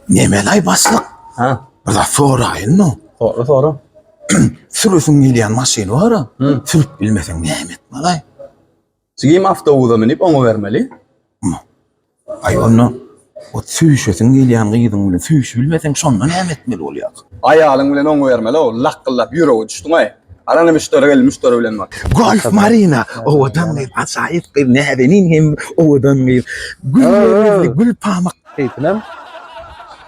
Nemelay baslyk? Ha. Bir zat soraýyn no. Sora sora. Sürüsiň gelýän maşyn bar. Sürüp bilmeseň näme etmelay? Sigim awtobusa münip oňa bermeli. Aý onda o süýşesiň gelýän gyzyň bilen süýşüp bilmeseň şonda näme etmeli bolýar? Aýalyň bilen oňa bermeli o. Lakgyldap ýüregi düşdüňaý. Garany müşderi geldi müşderi bilen bar. Golf Marina owadan gyz ajaýyp gyz näzenin hem owadan gyz. Gül ýürekli gül pamak. Keýpinem.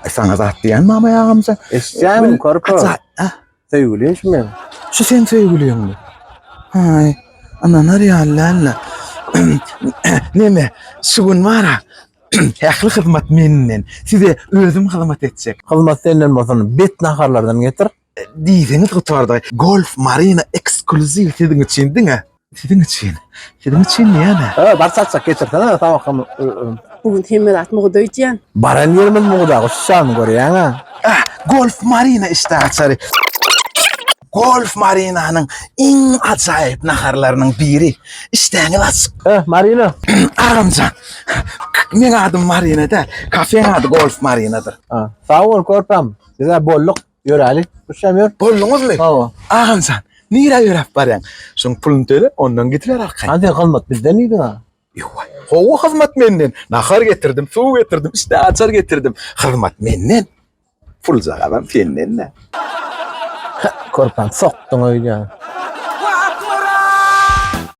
Ay sana zat diyen mama yağımca. Eşitýänim körpe. Kaça? Ah, Söýgülim şu men. şu sen söýgüliň mi? Hay, ananar ýallanla. Neme, şu gün var ha. Ähli hyzmat menden. Size özüm hyzmat etjek. Hyzmat senden bolsun. Bet naharlardan getir. Diýseňiz gutardy. Golf Marina ekskluziw siziň üçin diňe. Siziň üçin. Siziň üçin diýýän-ä. He, bar çaçak geçirsene tabakam. Bu gün hemme zat mugda öýdýän. Baran ýerimiz mugda guşjany görýäň-ä. Äh, Golf Marina işdä açary. Golf Marinanyň iň ajaýyp naharlarynyň biri. Işdäňiz açyk. Äh, Marina. Agamjan. Meň adym Marina däl. Kafeň ady Golf Marinadyr. Sag bol körpäm. Biz-ä bolduk. Ýöräli. Üçem ýör. Bolduňyzmy? Hawa. Agam sen. Nirä ýöräp barýaň? Şuň puluny töle, ondan getiber arkaýyn. Hadi hyzmat bizden diýdiň ha. Ýowa. Gowy hyzmat menden. Nahar getirdim, suw getirdim, işte açar getirdim. Hyzmat menden. Pul jagazam senden-dä. Körpäni sokduň öýdýän.